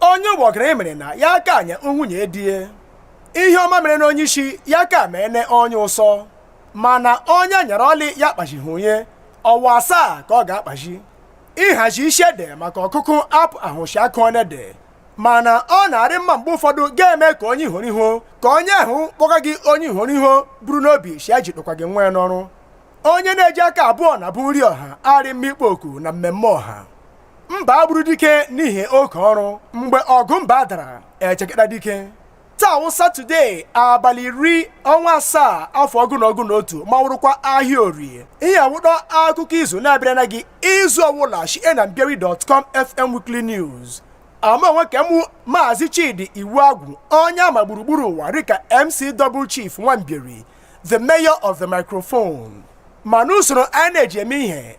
onye ụgbọgụrụ mere na ya akanye nwunye di ya ihe ọma mere na onye isi ya ka mee na onye ụsọ mana onye nyere ọlị ya kpazighị onye ọwa asaa ka ọ ga-akpazi ịhazi isi ede maka ọkụkụ apụahụ shi a kụọna ede mana ọ na-arị mma mgbe ụfọdụ ga-eme ka onye ihoro ihu ka onye ahụ kpọga gị onye ihoro ihu buru n'obi shi e ji kpọkwa gị nwa ya n'ọrụ onye na-eji aka abụọ na bụ nri ọha arị mma ịkpọ oku na mmemme ọha mba gburu dike n'ihi oke ọrụ mgbe ọgụ mba dara echekata dike taa wụ satọde abalị iri ọnwa asaa afọ ọgụ na ọgụ na otu ma wụrụkwa ahịa orie ihe a wụdọ akụkọ izu na-abịara na gị izu ọwụla shi na mbieri.com fm weekly news amụ onwe ke mụ maazị chidi iwuagwu onye a ma gburugburu ụwa rị ka mc double chief nwa mbieri the mayor of the microphone ma n'usoro a na-eji eme ihe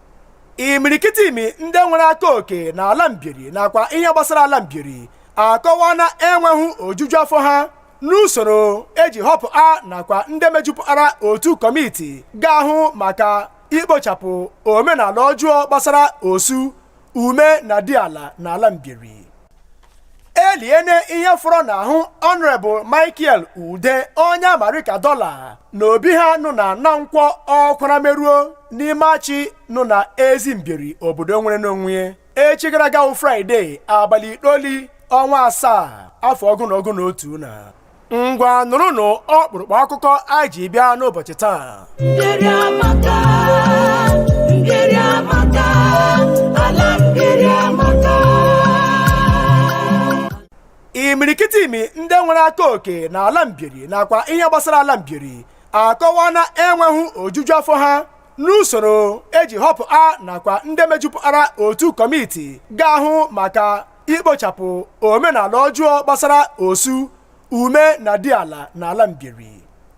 imirikiti imi ndị nwere aka oke na ala mbieri nakwa ihe gbasara ala mbieri akọwaana enweghị ojuju afọ ha n'usoro e ji họpụa nakwa ndị mejupụtara otu kọmiti ga-ahụ maka ikpochapụ omenala ọjọọ gbasara osu ume na diala na ala mbieri eliene ihe fọrọ n'ahụ honorable michael ude onye a ma rị ka dọla na obi ha nụ na na nkwọ ọkwara meruo n'ime achị nụ na ezi mbieri obodo nwerena onwe echi gara aga wụ fraịde abalị itoli ọnwa asaa afọ ọgụ na ọgụ na otu na ngwa nụrụnụ ọkpụrụkpụ akụkọ anyị ji bịa n'ụbọchị taa mbieri amaka mbieri amaka ala mbieri amaka imirikiti imi ndị nwere aka oke na ala mbieri nakwa ihe gbasara ala mbieri akọwaana enweghị ojuju afọ ha n'usoro e ji họpụa nakwa ndị mejupụtara otu kọmiti ga-ahụ maka ikpochapụ omenala ọjọọ gbasara osu ume na diala na ala mbieri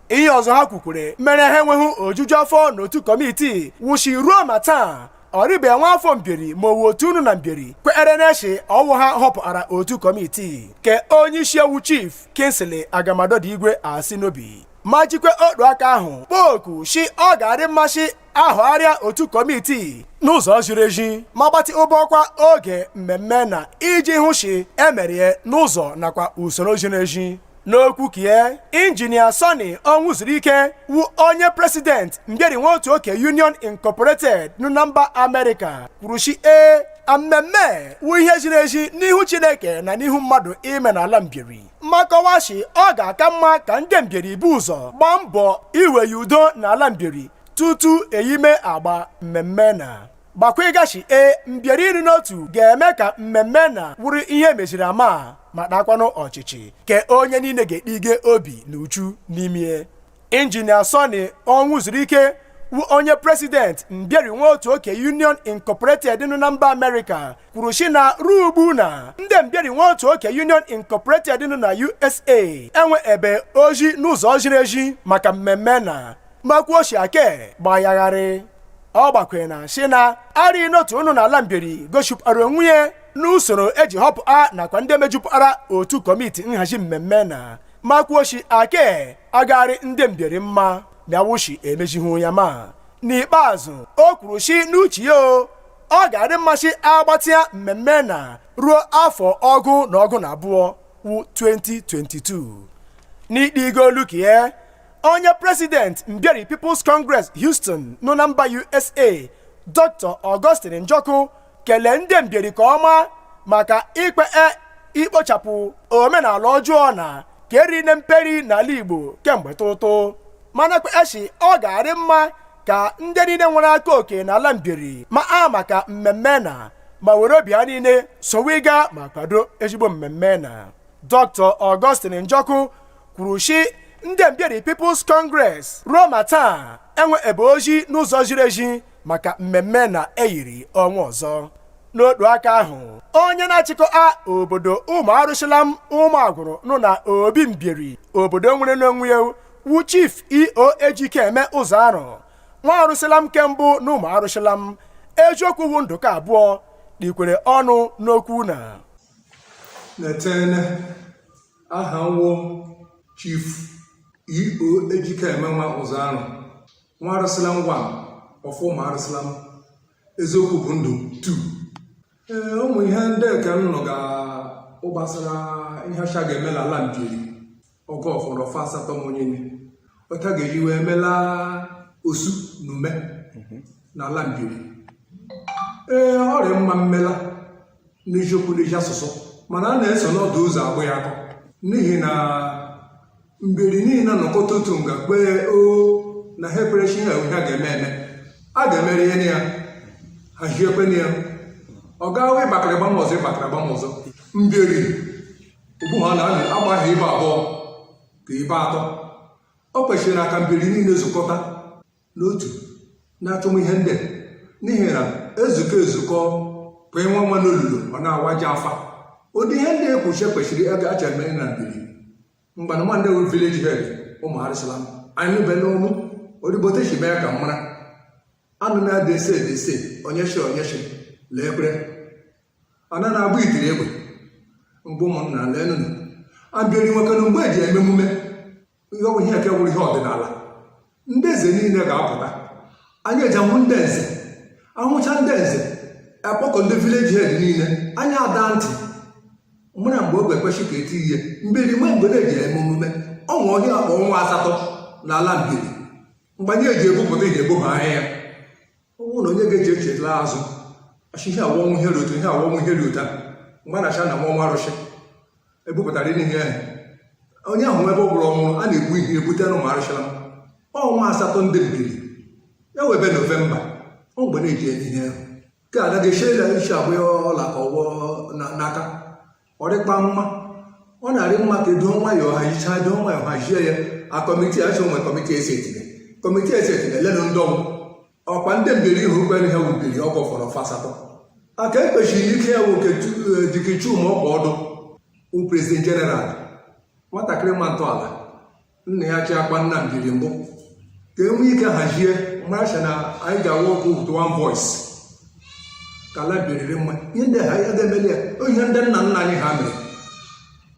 ihe ọzọ ha kwukwere mere ha enweghị ojuju afọ n'otu kọmiti wụ shi ruo ma taa ọ rịbe nwa afọ mbieri ma ọ wụ otu nụ na mbieri kwerena shi ọ wụ ha họpụtara otu kọmiti ke onye isi e wụ chief kingsley agamadọdụ igwe asị n'obi ma jikwa otu aka ahụ kpọọ oku shi ọ ga-arị mma shi a họgharịa otu kọmiti n'ụzọ ziri ezi ma gbatịbọkwa oge mmemme na iji hụ shi e merie n'ụzọ nakwa usoro ziri ezi n'okwu kie injinia sonny onwuzuruike wụ onye president mbieri nwaotuoke union incorporated nụ na mba amerịka kwuru shi ee mmemme wụ ihe ziri ezi n'ihu chineke na n'ihu mmadụ ime n'ala mbieri ma kọwa shi ọ ga-aka mma ka ndị mbieri bu ụzọ gbaa mbọ iweya udo n'ala mbieri tutu eyime agba mmemme na gbakwaịga shi e mbieri ịrị n'otu ga-eme ka mmemme na wụrụ ihe meziri ama ma takwanụ ọchịchị ke onye niile ga-etiige obi na uchu n'ime injinia Sonny Onwuzurike wụ onye president Mbieri Nwaotuoke union incorporated nọ na mba amerịka kwuru shi na ruo ugbu na ndị Mbieri Nwaotuoke union incorporated nọ na usa enweebe ozi n'ụzọ ziri ezi maka mmemme na ma kwuo shi ake gba ya gharịị ọ gbakwere na shi na arịghị n'otu nọ n'ala Mbieri gosipụtara onwe ya n'usoro eji họpụta nakwa ndị mejupụtara otu kọmiti nhazi mmemme na ma kwuo shi ake agagh arị ndị Mbieri mma ma a wụ shi emezihu ya ma n'ikpeazụ o kwuru shi n'uche ya o ọ ga-arị mma shi agbatịa mmemme na ruo afọ ọgụ na ọgụ na abụọ wụ 2022 n'itiigo olu kie onye president Mbieri people's congress houston nọ na mba usa dr augustine njọkụ kelee ndị Mbieri ka ọma maka ikpe e, ikpochapụ omenala ọjọọ na ka eri na mperi n'ala Igbo kemgbe ụtụtụ mana kwee shi ọ ga-arị mma ka ndị niile nwere aka oke n'ala Mbieri maa maka mmemme na ma were obi ha niile soweịga ma kwado ezigbo mmemme na Dr Augustine Njọkụ kwuru shi ndị Mbieri People's Congress ruo ma taa enweebe ozi n'ụzọ ziri ezi maka mmemme na eyiri ọnwa ọzọ n'otu aka ahụ onye na-achịkọa obodo ụmụ Arụsịlam Ụmụagwụrụ nọ na obi mbieri obodo nwere n'onwe ya wu chief E.O. Ejikeme Ụzọarụ nwa Arụsịlam nke mbụ na ụmụ Arụsịlam eziokwu wụ ndụ ke abụọ tiikwere ọnụ n'okwu na na-etene aha m wụ chief E.O. Ejikemenwa Ụzọarụ nwa Arụsịlam 1 of ụmụ Arụsịlam eziokwu bụ ndụ 2 ee ụmụ ihe ndị ka m nụga gbasara ihe a shị a ga-eme na ala Mbieri ọgọst ọnwa asatọ m onye otu a ga-eji wee mela osu na ume na ala Mbieri ee ọ rị mma mmela n'eziokwu n'ezi asụsụ mana a na-eso n'ọdụ ụzọ agbụ ya akọ n'ihi na Mbieri niile nọkọta otu nga kpee o na ha ekperechi ihe ha ga-eme eme a ga-emere ihe na ya hazie ekwe na ya ọ gaghị ịgbakara gbam ọzọ ịgbakara gbam ọzọ Mbieri ugbu a na-anị agbaghị ibe abụọ ka ibe atọ o kwesịrị na ka Mbieri niile zukọta n'otu na-achọm ihe ndị n'ihi na ezukọ ezukọ bụ ịnwa nwa n'olulu ọ na-awaji afa ụdị ihe ndị ekwuche kwesịrị acha eme na Mbieri mgbana nwa ndị wụ village head ụmụ Arụshalam anyị nụbe n'ọnụ odibote si mee ka m mara anụ na-adị ese dị ese onye shi onye shi lee ekpere ana na-abụ itiri egbe mgbe ụmụnna lee nụ na Mbieri nwekwanụ mgbe eji eme emume ihe ọ wụ ihe nke wụrụ ihe ọdịnala ndị eze niile ga-apụta anyị eji ahụ ndị eze ahụcha ndị eze akpọkọ ndị village head niile anyị ada ntị mara mgbe oge kwesị ka eti ihe Mbieri nwe mgbe na-eji eme emume o nwe ihe a kpọ ọnwa asatọ n'ala Mbieri mgbe anyị eji ebupụta ihe ebuba anya ya ọ bụrụ na onye ga-eji echetla azụ achị ihe awọnwụ ihe rute ihe awọnwụ ihe rute mgbe na acha na nwa ọnwa arụsị ebupụtara ihe ihe onye ahụ nwe ebe ọ bụla ọnwụrụ a na-egbu ihe ebute na ụmụ Arụshalam ọnwa asatọ ndị Mbieri ya ewebe November ọ mgbe na-eji eme ihe ahụ ka a gaghị echie ya iche abụ ya ọla ka ọgwọ n'aka ọ dịkwa mma ọ na-arị mma ka edo nwayọọ hazichaa edo nwayọọ hazie ya a committee achọ nwe committee esi etinye committee esi etinye lenụ ndị ọ wụ ọkwa ndị Mbieri ihe ugbere ha wubiri ọgwọ fọrọ fasatọ aka ekpechiri ike ya nwoke Dike Chuma ọkpa ọdụ bụ president general nwatakịrị ma ntọala nna ya chi akpa nna Mbieri mbụ ka e nwee ike hazie maracha na anyị ga-awa okwu with one voice ka ala Mbieri rị mma ihe ndị ha ya ga-emeli ya ihe ndị nna nna anyị ha mere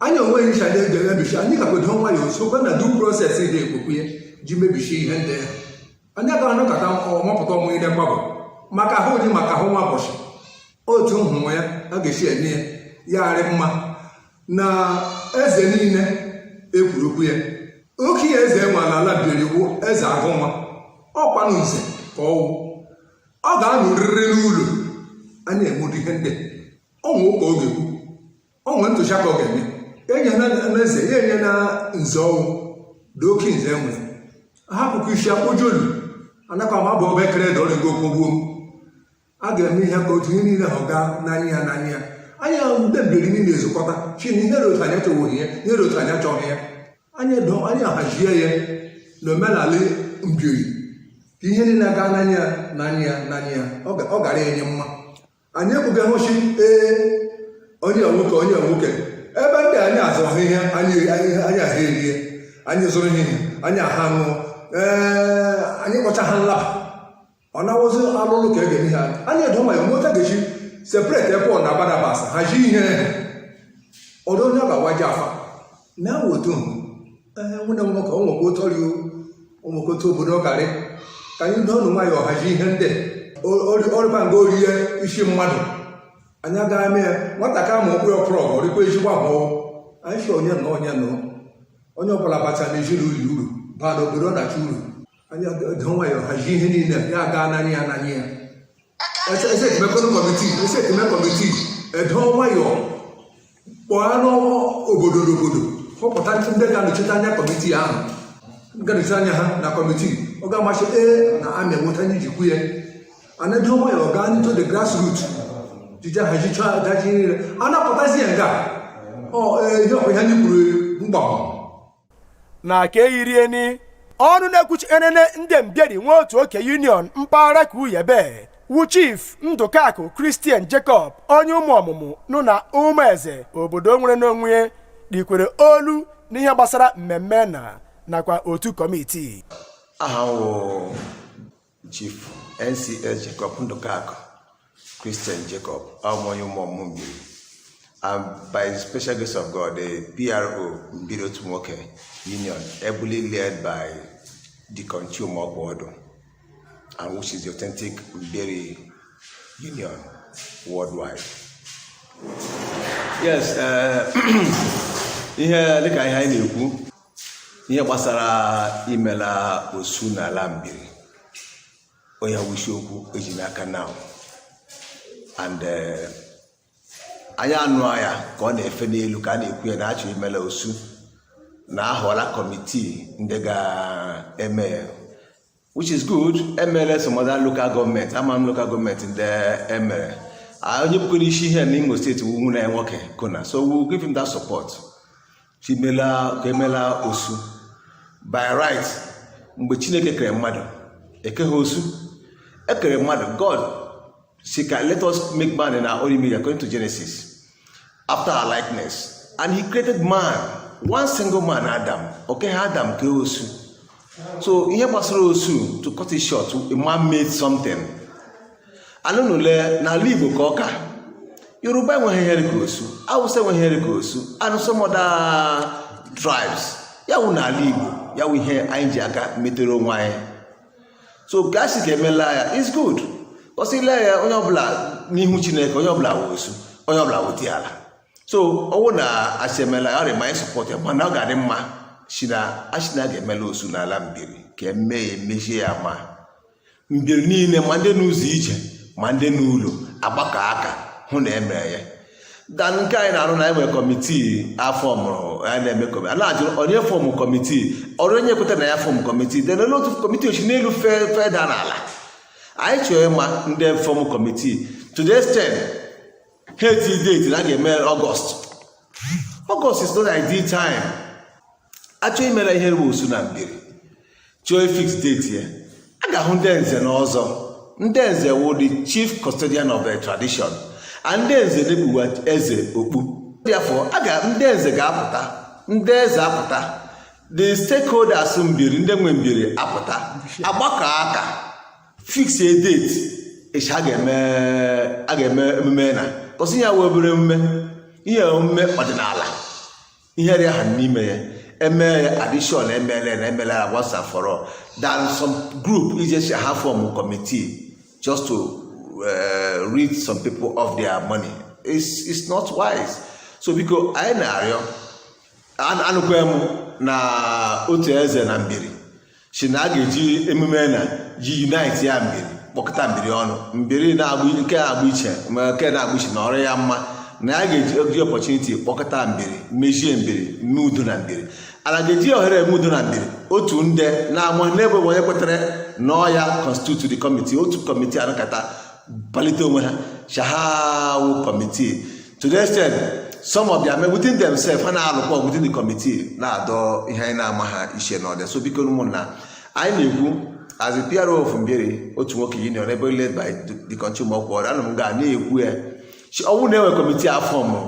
anyị onweghị ncha ndị ga-emebichi anyị ga-edo nwayọọ sokwa na due process dị ekpokwu ya ji mebisi ihe ndị ha anyị aga anọkọta wepụta ọmụ ile mgbagọ maka ahụ dị maka ahụ nwa ụbọchị otu nhụnwa ya a ga-esi eme ya ya arị mma na eze niile ekwuru okwu ya oke ya eze e nwe n'ala Mbieri wụ eze Agụnwa ọ kwanụ nze ka ọ wụ ọ ga-anọrịrị n'ụlọ a na-emedu ihe ndị o nwe ụka ọ ga-ekwu ọ nwere ntụziaka ọ ga-eme enye na eze ya enye na nze ọ wụ ụdị oke nze e nwere hapụkwa isi akpụjolu anakwa ma bụ ọba ekere dị ọrịgo okpogbuo a ga-eme ihe ka otu ihe niile ahụ gaa n'anya ya n'anya ya anyị ahụ ndị Mbieri niile ezukọta shị na ihe otu anyị achọghị ya ihe otu anyị achọghị ya anyị ahazie ya na omenala Mbieri ka ihe niile gaa n'anya ya n'anya ya n'anya ya ọ ga-arị anyị mma anyị ekwughị hụchi ee onye nwoke onye nwoke ebe ndị anyị azụọ ihe anyị anyị aha erie anyị zụrụ ihe anyị aha ṅụọ ee anyị kpọcha ha nlaba ọ na-awụzi alụlụ ka e ga-eme ha anyị edo ma ya meta ga-eshi separate Paul na Barnabas ha ji ihe ọdụ onye ga-awaji afa na wotu nwụne m nwoke ọnwekwa otu ọrịa ụmụkwa otu obodo karị ka anyị doo ọnụ nwayọ hazi ihe ndị ọrịba nga orie isi mmadụ anyị agaghị mee ya nwata ka ma okpuru ọkpụrụ ọgụ ọrịkwa ezigbo ahụhụ anyị si onye nọ onye nọ onye ọbụla bacha na ezinụlọ uru baa n'obodo ọdachi uru anyị doo nwayọ hazi ihe niile ya aga ananya ya ananya ya ese ese ti mekọ ni kọmiti ese ti mekọ kọmiti edoo nwayọ kpọọ n'obodo n'obodo kpọpụta ndị ndị ga-anọchite anya kọmiti ahụ ga-anọchite anya ha na kọmiti ọ ga-amasị ee na amị enweta ndị jikwu ya and doo nwayọ gaa into the grass root jija ha jicha daji niile a na-apụtazi ya nga ọ ee ihe ọkwa ihe anyị kwuru mgbanwe n'aka eyirieni ọnụ na-ekwuchi enene ndị mbieri nwaotuoke union mpaghara ka uyebe wu chief ndụkakụ christian jacob onye ụmụọmụmụ nọ na ụmụeze obodo nwere onwe ya tikwara olu n'ihe gbasara mmemme na nakwa otu kọmitii aha m wụ Chief NCS Jacob Ndụkakụ Christian Jacob awụ m onye Ụmụọmụmụ Mbieri and by the special grace of God the PRO Mbieri otu nwoke union ably led by Deacon Chioma Ọkpọọdụ and which is the authentic Mbieri union worldwide. Yes, uh, ihe dịka ihe anyị na-ekwu ihe gbasara imela osu n'ala mbieri ọ ya wụ isi okwu eji n'aka now and eh, anyị anụ ya ka ọ na-efe n'elu ka a na-ekwu ya na achọ imela osu na ahọla kọmitii ndị ga-eme which is good emere some other local gọọmenti ama m local gọọmenti ndị emere onye bụkwara isi ihe na imo steeti wu nwanne nwoke kona so we give him that support ka emela osu by right mgbe chineke kere mmadụ ekeghị osu ekere mmadụ god si ka let us make man in our own image according to genesis after our likeness and he created man one single man adam o keha adam kee osu so ihe gbasara osu to cut it short man made something and only n'ala igbo ka ọ ka yoruba enweghị ihe dịka osu awụsa enweghị ihe dịka osu and some other tribes ya wụ n'ala igbo ya wụ ihe anyị ji aka metere onwe anyị so ka a sị ka emela ya is good cause ile ya onye ọbụla n'ihu chineke onye ọbụla wụ osu onye ọbụla wụ diala so ọ wụ na asị emela ya ọ dị mma anyị sọpọt ya mana ọ ga-adị mma si na asị na ga-emela osu n'ala mbieri ka eme ya emezie ya ma mbieri niile ma ndị n'ụzọ ije ma ndị n'ụlọ agbakọ aka hụ na emere ya than nke anyị na-arụ na e nwe committee a fọmụrụ anyị na-eme committee a na-ajụ onye fọmụ committee ọ rọ onye kweta na ya fọmụ committee then onye otu committee o shi n'elu feda n'ala anyị chọrọ ịma ndị fọmụ committee to the extent ha eti date na a ga-eme August August is not ideal time a chọọ imela ihe wụ osu na Mbieri chọọ fix date ya a ga-ahụ ndị nze na ọzọ ndị nze wụ the chief custodian of the tradition and ndị nze na-ekpuwa eze okpu therefore ndị nze ga-apụta ndị eze apụta the stakeholders Mbieri ndị nwe Mbieri apụta agbakọ aka fix a date e shi a ga-eme emume na because ihe a wee obere emume ihe omume ọdịnala ihe dị aha n'ime ya emee ya addition emela na emela ya once and for all than some group ije si ha fọmụ committee just to uh, rid some people of their money it's, it's not wise so biko anyị na-arịọ anụkwa m na otu eze na Mbieri si na a ga-eji emume na ji unite ya Mbieri kpọkọta Mbieri ọnụ Mbieri na-agba nke na-agba iche ma nke na-agba iche na ọ rọ ya mma na a ga-eji oge opportunity kpọkọta Mbieri mezie Mbieri mee udo na Mbieri ana ga-eji ohere eme udo na Mbieri otu nde na-ama n'ebe onye kwetara na ọ ya constitute the committee otu committee anọkata palite onwe ha shị ha wụ committee to the extent some of them within themselves ha na-alụkwa ọgụ within the committee na-adọ ihe anyị na-amaha ishi na ọdụ ya so biko ụmụnna anyị na-ekwu as a PRO of Mbieri otu nwoke union ably led by the country ma ọkwa ọrịa ana m ga na-ekwu ya shi ọ wụ na e nwe committee a fọmụ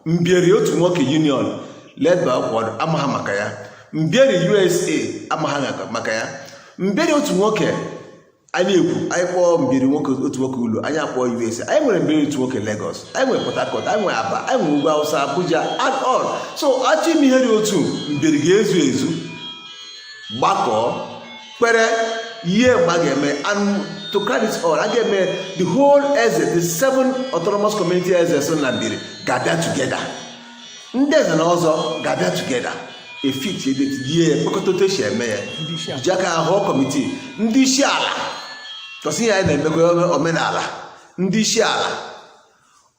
Mbieri otu nwoke union led by ọkwa ọrịa amaha maka ya Mbieri USA amaha maka ya Mbieri otu nwoke anyị ekwu anyị kpọọ Mbieri nwoke otu nwoke ụlọ anyị akpọọ USA anyị nwere Mbieri otu nwoke Lagos anyị nwere Port Harcourt anyị nwere Aba anyị nwere ugwu Hausa Abuja and all so a chọọ ime ihe dị otu Mbieri ga-ezu ezu gbakọọ kpebie mgbe a ga-eme and to crown it all a ga-eme the whole eze the seven autonomous community eze so na Mbieri ga-abịa together ndị nze na ọzọ ga-abịa together efit ebe tinye ya mkpekọta otu esi eme ya ji aka ahọ committee ndị isi ala because ihe anyị na-emekọ omenala ndị isi ala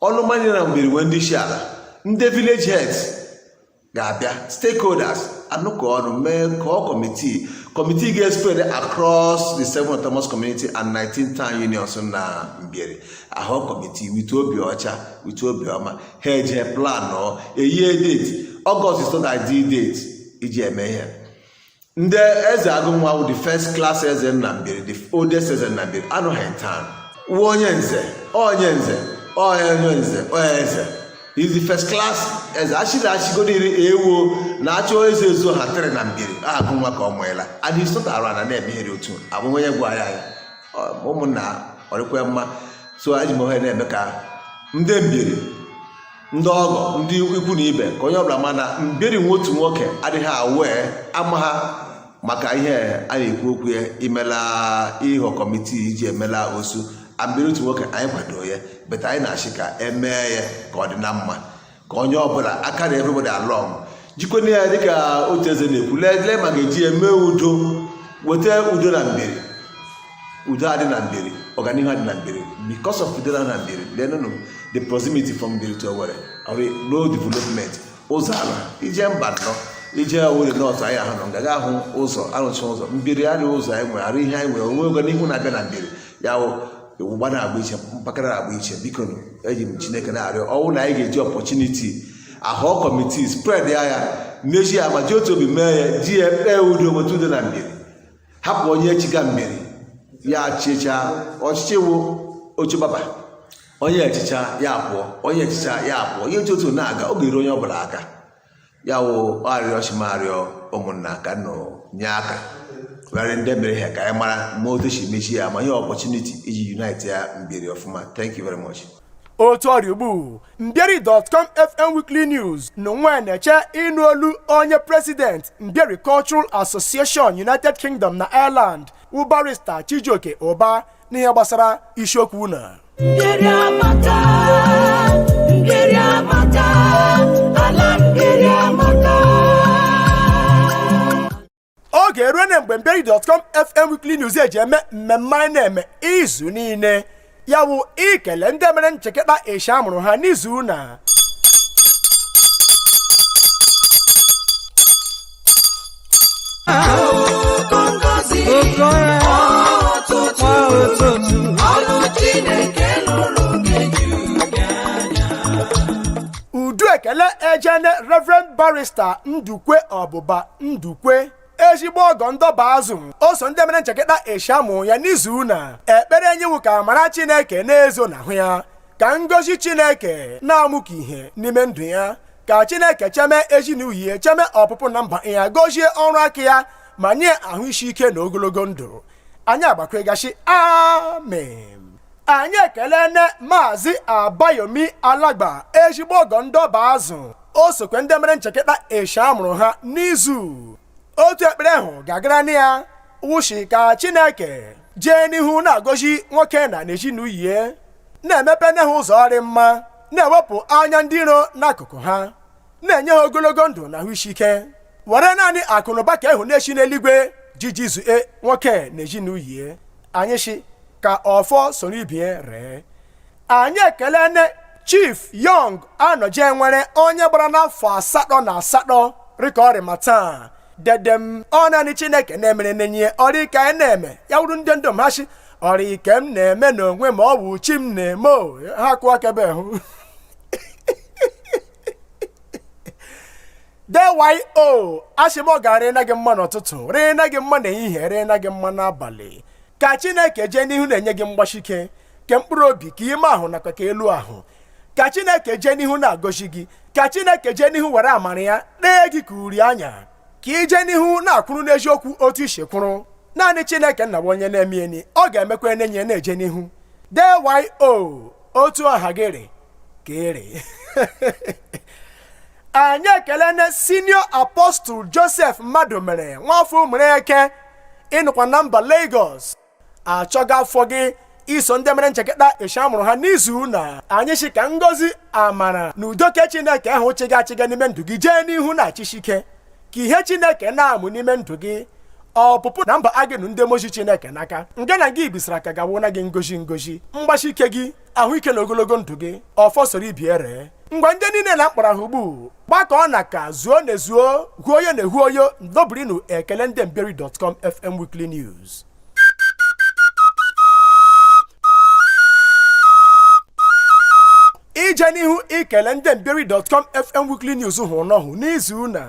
ụnụ ma na Mbieri nwee ndị isi ala ndị village heads ga-abịa stakeholders anọkọ ọnụ mee họọ committee committee ga-espread across the seven autonomous community and 19 town unions na Mbieri a họọ committee with obi ọcha with obi ọma ha eje plan ọ eyie date August is not ideal date iji eme ihe ndị eze Agụnwa wụ the first class eze na Mbieri the oldest eze na Mbieri anọghị town wuo onye nze onye nze onye nze onye eze is the first class eze achịrị achịgodo iri ewuo na achọ eze ezu ha tere na Mbieri Agụnwa ka ọ mụela and he's not around a na-eme ihe dị otu abụghị onye gwara ya ụmụnna ọ rịkwa mma so eji m ohere na-eme ka ndị Mbieri ndị ọgọ ndị ikwu na ibe ka onye ọbụla ma na Mbieri nwe otu nwoke adịghị aware amaha maka ihe a na-ekwu okwu ya imela ịhọ kọmitii iji emela osu Mbieri otu nwoke anyị kwado ya but anyị na-asị ka emee ya ka ọ dị na mma ka onye ọbụla a carry everybody along jikwana ya dịka otu eze na-ekwu lee ma ga-eji ya mee udo weta udo na Mbieri udo adị na Mbieri ọganihu adị na Mbieri because of udo na Mbieri lenụnụ the proximity from Mbieri to Owerri road development ụzọ ala ije Mbano ije Owerri north anyị ahụ nọ nga ga ahụ ụzọ arụcha ụzọ Mbieri arị ụzọ anyị nwere arị ihe anyị nwere o nwe ọganihu na-abịa na Mbieri ya ụwa na-agba iche mpaghara na-agba iche biko eji m chineke na-arịọ ọ wụ na anyị ga-eji opportunity a họọ kọmitii spread ya ya n'eji ya ma ji otu obi mee ya ji ya kpee udo bute udo na Mbieri hapụ onye chịga Mbieri ya chịchaa ọchịchị wụ oche barber onye chịchaa ya pụọ onye chịchaa ya pụọ ihe dị otu a na-aga ọ ga-eru onye ọ bụla aka ya wụ arịọ si m arịọ ụmụnna ka unu nye aka rarị ndị mere ihe ka anyị mara ma otu si mechi ya ma ihe opportunity iji unite ya Mbieri ọfụma thank you very much otu ọ rị ugbu Mbieri.com fm weekly news na nwa na-eche ịnụ olu onye president Mbieri cultural association united kingdom na ireland wụ barrister Chijioke Ụba n'ihe gbasara isiokwu na oge eruona mgbe Mbieri.com fm weekly news eji eme mmemme anyị na-eme izu niile ya wụ ikele ndị mere ncheketa eshi a mụrụ ha n'izu na Oke ngọzi oke ọrụ ụtụtụ kwa ụtụtụ ọlụ Chineke lụrụ ga-eju gị anya. udu ekele ejene reverend barrister ndukwe ọbụba ndukwe ezigbo ọgọ ndị Ọbazụ o so ndị mere ncheketa eshi amụ ya n'izu na ekpere anyị wụ ka amara chineke na-ezo n'ahụ ya ka ngọzi chineke na-amụkwa ihe n'ime ndụ ya ka chineke cheme ezinụlọ ya cheme ọpụpụ na mba ya gozie ọrụ aka ya ma nye ahụ isi ike na ogologo ndụ anyị agbakwegha shi amen anyị ekelene maazị abayomi alagba ezigbo ọgọ ndị ọbazu o sokwe ndị mere nchekịta eshi a mụrụ ha n'izu otu ekpere ahụ ga-agara na ya wụ shi ka chineke jee n'ihu na-agọzi nwoke na ezinụlọ ya na-emepe nye ha ụzọ ọrịmma na-ewepụ anya ndị iro n'akụkụ ha na-enye ha ogologo ndụ na ahụ isi ike were naanị akụnụba ke ahụ na-eshi n'eluigwe ji jizue nwoke na ezinụlọ ya anyị shi ka ọfọ soro ibie ree anyị ekelene chief young anọje nwere onye gbarana afọ asatọ na asatọ rịka ọ rị ma taa dede m ọ naanị chineke na-emere nenye ọ rịị ike anyị na-eme ya wụrụ ndị ndom ha si ọ rịị ike m na-eme n'onwe m ọ bụ chi m na-eme o ha kụọ aka ebe ahụ dyo asị m ọ ga-arị na gị mma n'ụtụtụ rịị na gị mma n'ehihie rịị na gị mma n'abalị ka chineke jee n'ihu na-enye gị mgbashike ke mkpụrụ obi ke ime ahụ nakwa ke elu ahụ ka chineke jee n'ihu na-agọzi gị ka chineke jee n'ihu were amara ya dee gị ka uri anya ka i jee n'ihu na-akwụrụ n'eziokwu otu i shi kwụrụ naanị chineke nna bụ onye na-emeni ọ ga-emekwa enenyi ya na-eje n'ihu dyo otu aha gị rị ka ị rị anyị ekelene senior apostle joseph madụmere nwafọ ụmụreke ị nọkwa na mba Lagos achọga afọ gị i so ndị mere nchekịta eshi a mụrụ ha n'izu na anyị shi ka ngozi amara na udo ke chineke ahụ chịga achịga n'ime ndụ gị jee n'ihu na-achịshi ike ka ihe chineke na-amụ n'ime ndụ gị ọpụpụ na mba agịnụ ndị mozi chineke n'aka nke na gị bisara ka gawo na gị ngozi ngozi mgbashi ike gị ahụike na ogologo ndụ gị ọfọ soro ibie ree ngwa ndị niile na m kpọrọ aha ugbu gbakọọ na ka zuo na ezuo hu oyo na ehu oyo ndobirinu ekele ndị mbieri dọtkọm fm weekly news ije n'ihu ikele ndị mbieri dọtkọm fm weekly news hụrụ n'ọhụ n'izu na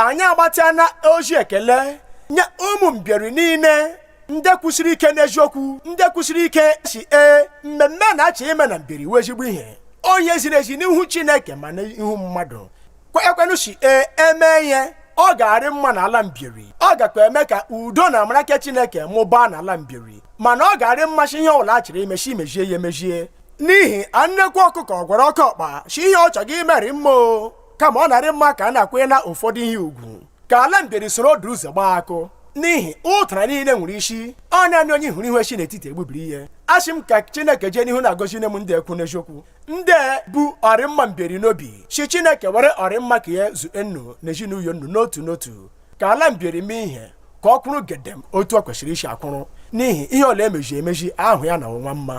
anyị agbatịana ozi ekele nye ụmụ mbieri niile ndị kwụsiri ike n'eziokwu ndị kwụsiri ike si ee mmemme a na-achọ ime na mbieri wụ ezigbo ihe ọ ihe ziri ezi n'ihu chineke ma n'ihu mmadụ kwekwenụ si ee emee ihe ọ ga-arị mma n'ala mbieri ọ gakwa eme ka udo na amara nke chineke mụbaa n'ala mbieri mana ọ ga-arị mma shi ihe ọbụla a chọrọ ime shi mezie ya emezie n'ihi na nnekwu ọkụkọ gwara oke ọkpa si ihe ọ chọghị imeri mma o kama ọ na-arị mma ka a na-akwanye na ụfọdụ ihe ugwu ka ala mbieri soro ọdụ ụzọ gbaa akụ n'ihi ụtara niile nwere isi ọ naanị onye hụrụ ihu si n'etiti egbubiri ihe asị m ka chineke jee n'ihu na-agọzine m ndị ekwu n'eziokwu ndị bu ọrịmma mbieri n'obi si chineke were ọrịmma ka ya zue nnu na ezinụlọ nnu n'otu n'otu ka ala mbieri mee ihe ka ọ kwụrụ gedem otu o kwesịrị isi akwụrụ n'ihi ihe ọla emezi emezi ahụ ya na ọnwa mma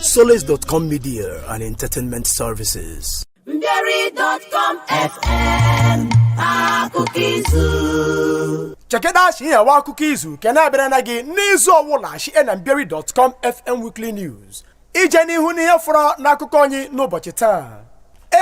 Solace.com Media and Entertainment Services. Mbieri.com FM akụkọ izu chekedachi nyewa akụkọ izu ke na-abịara na gị n'izu ọwụla shie na mbieri.com fm weekly news ije n'ihu n'ihe fọrọ n'akụkọ anyị n'ụbọchị taa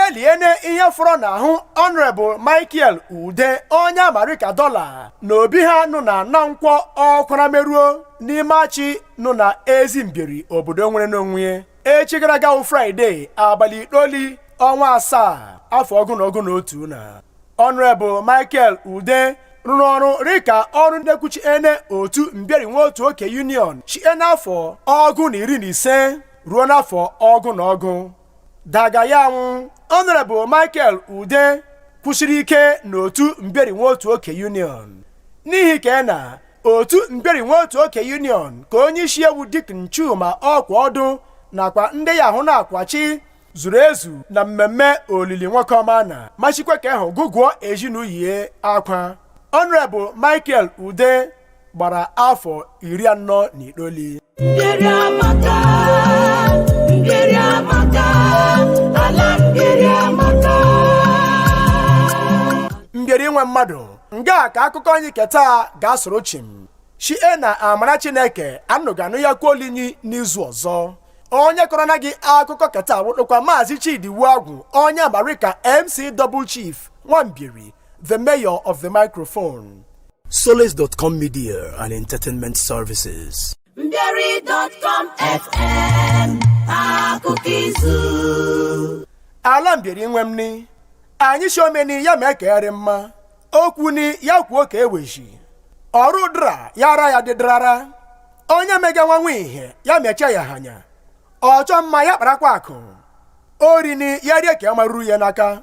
eliene ihe fọrọ n'ahụ ọnrebụl michael ude onye a ma rịka dọla na obi ha nụ na na nkwọ ọkwara meruo n'ime achi nụ na ezi mbieri obodo nwere n'onwe ya echi gara aga wụ fraịde abalị itoli ọnwa asaa afọ ọgụ na ọgụ na otu na ọnrebụl michael ude rụrụ ọrụ rịka ọnụ na-ekwuchiene otu mbieri nwaotuoke union shie n'afọ ọgụ na iri na ise ruo n'afọ ọgụ na ọgụ Daga ya anwụ Honorable Michael Ude kwụsiri ike n'otu Mbieri Nwaotuoke Union n'ihi ka na otu Mbieri Nwaotuoke Union ka onye isi e wụ Deacon Chuma ọkwa ọdụ nakwa ndị ya ahụ na-akwachi zuru ezu na mmemme olili nwoke ọma na ma sikwa ka ahụ gụgụọ ezinụlọ akwa Honorable Michael Ude gbara afọ iri anọ na itoolu mbieri nwe mmadụ nga ka akụkọ anyị keta ga-asụrụ chịm shie na amara chineke nnu ga-anụyakwa olu anyị n'izu ọzọ onye kọrọ na gị akụkọ keta wụdụkwa maazị chidi iwuagwu onye a ma rịka mc double chief nwa mbieri the mayor of the microphone. Solace.com Media and Entertainment Services. Mbieri.com FM akụkọ izu. Ala mbieri nwe m ni, anyị si omeni ya mee ke rị mma, okwu ni ya kwuo ka eweji, ọrụ dra ya ara ya dịdrara, onye mega nwanwe ihe ya mecha ya hanya, ọchọ mma ya kparakwa akụ, ori ni ya rie ka ya maruru ya n'aka.